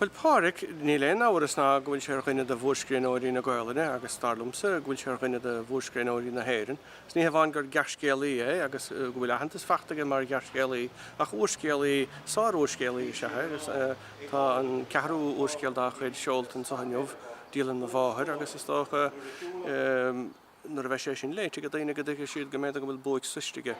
Bhuel, Pádraic, níl aon amhras ná go bhfuil sé ar dhuine de mhórscríbhneoirí na Gaolainne agus, dar liomsa, go bhfuil sé ar dhuine de mhórscríbhneoirí na hÉireann. Is ní hamháin gur gearrscéalaí é agus go bhfuil aitheantas fachta aige mar ghearrscéalaí ach úrscéalaí, sár-úrscéalaí, is ea é agus tá an ceathrú úrscéal dá chuid seolta anseo inniu, Dialann Mo Mháthar, agus is dócha. Nuair a bheidh sé sin léite ag daoine go dtuigfidh siad go mb'fhéidir go bhfuil buaic sroichte aige.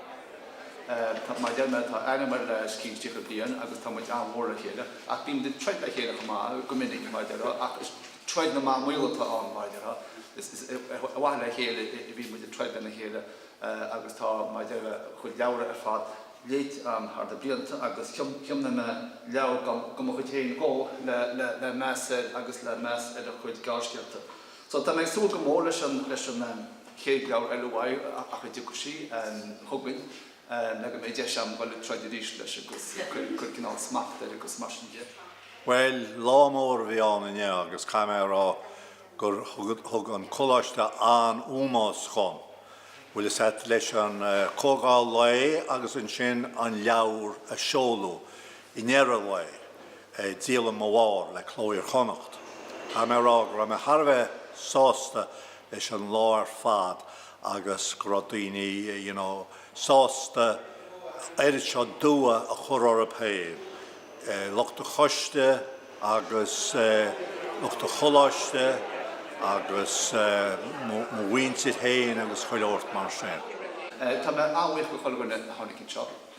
Maidir liom, tá aithne agam air le os cionn 30 bliain agus tá muid an-mhór le chéile. Ach bímid ag troid le chéile chomh maith, go minic, mar a déarfá, ach is troid na mba maol atá ann, mar a déarfá. Is ar mhaithe le chéile a bhíonn muid ag troid lena chéile agus tá, mar a déarfá, a chuid leabhra ar fad léite agam thar na blianta agus thiomnaigh mé leabhar de mo chuid féin dhó le meas air agus le meas ar a chuid gearrscéalaíochta. So tá mé ag súil go mór leis an, leis an ehm, chéad leabhar eile uaidh ach a dtiocfaidh sí, ehm, chugainn, ehm, le go mbeidh deis agam dul ag troid arís leis agus cuir, cuir cineál smacht air agus mar sin de. Bhuel, lá mór a bhí ann inniu agus caithfidh mé a rá gur thug, thug an coláiste an-ómós dhom. Bhfuil a fhios agat, leis an, eh, comhdháil lae agus ansin an leabhar a seoladh. I ndeireadh an lae, Dialann Mo Mháthar le Cló Iar-Chonnacht. Caithfidh mé a rá go raibh mé thar a bheith sásta leis an lá ar fad agus go raibh daoine you know sásta oiread seo dua a chur orthu féin, lucht an choiste agus lucht an choláiste agus mo mhuintir féin agus chuile shórt mar sin. Tá mé an-bhuíoch de chuile dhuine a tháinig anseo.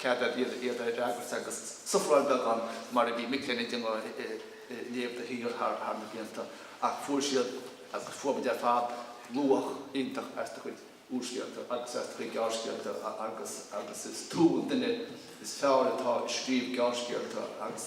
cead ar bith iad a fhreagairt agus sufráil beagán mar a bhí mic léinn ag déanamh léamh de shíor thar na blianta ach fuair siad, agus fuair muid ar fad, luach iontach as do chuid úrscéalaíochta agus as do chuid gearrscéalaíochta agus is tú an duine is fearr atá ag scríobh gearrscéalaíochta agus